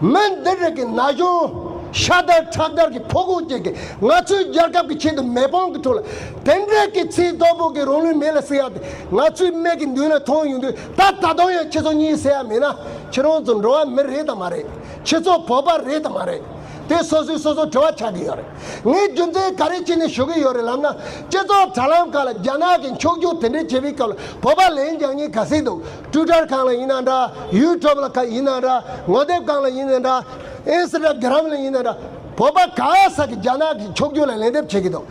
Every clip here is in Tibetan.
མི་འདི་རིགས་ཀྱི་ན་གཞོན་ཤ་དར་ཁྲག་དར་གྱི་ཕོ་རྒོད་ཅིག་གིས་ང་ཚོའི་རྒྱལ་ཁབ་ཀྱི་ཆེད་དུ་མེ་དཔང་གི་ཁྲོད་ལ་དེ་འདྲའི་གི་ཚིག་རྡོག་པོ་གིས་རང་ལུས་མེ་ལ་བསྲེགས་ཡག་དེ་ང་ཚོའི་མིག་གི་མདུན་ལ་མཐོང་ཡོང་དུས་ད་ད་དུང་ཡང་ཁྱེད་ཚོ་གཉིས་ཟེར་ཡ་མེད་ན་ཁྱེད་རང་ཚོ་འགྲོ་བ་མི་རེད་དམ་མ་རེད་ཁྱེད་ཚོ་བོད་པ་རེད་དམ་མ་རེད་དེ་སོ་སོས་སོ་སོར་དྲི་བ་ཆགས་ཀྱི་ཡོད་རེད་ངས་རྒྱུ་མཚན་ག་རེ་བྱས་ནས་ཞུ་གི་ཡོད་རེད་ལབ་ན་སྤྱི་ཚོགས་དྲ་ལམ་ཁག་ལ་རྒྱ་ནག་གིས་འཁྱོག་བརྗོད་དེ་འདྲའི་བྱས་པའི་སྐབས་ལ་བོད་པ་ལན་རྒྱག་ཉེན་ག་ཟིག་འདུག། སྐྲུ་དར་གང་ལ་ཡིན་ན་འདྲ་ཡུལ་གྲོབ་ལ་ག་ཡིན་ན་འདྲ་ངོ་དེབ་གང་ལ་ཡིན་ན་འདྲ་ཨིན་སི་ཏག་གི་རམ་ལ་ཡིན་ན་འདྲ་བོད་པ་ག་ས་གི་རྒྱ་ནག་གི་ཕྱོགས་རྒྱུ་ལ་ལན་འདེབས་བྱེད་ཀྱི་འདུག་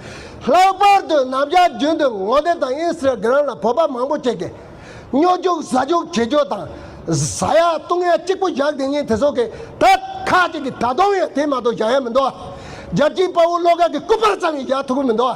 ལྷག་པར་དུ་ནམ་རྒྱ་རྒྱུན་དུ་ངོ་དེབ་དང་ཨིན་སི་ཏག་གི་རམ་ལ་བོད་པ་མང་པོ་སྐྱེས་ཀྱི་སྨྱོ་རྒྱུག་ཟ་རྒྱུག་བྱེད་རྒྱུ་དང་བཟའ་ཡག་བཏུང་ཡག་གཅིག་པོ་བཞག་དེ་ཉིན་དེ་སོག་གི་ད་ཁ་ཅིག་གི་ད་དུང་ཡང་དེ་མ་གཏོགས་བཞག་ཡག་མི་འདུག་རྒྱལ་སྤྱིའི་དཔའ་བོ་བློ་དགའ་གི་སྐུ་པར་ཙམ་ཡང་བཞག་ཐུབ་ཀྱི་མི་འདུག་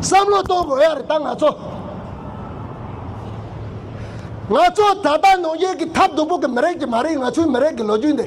བསམ་བློ་གཏོང་དགོས་ཡ་རེད་ད་ང་ཚོ། ང་ཚོ་ད་ལྟ་ནུ་རྒྱལ་གྱི་ཐབས་སྡུག་པོ་གི་མི་རིགས་ཀྱི་མ་རིག་ང་ཚོའི་མི་རིགས་ཀྱི་ལོ་རྒྱུས་འདི།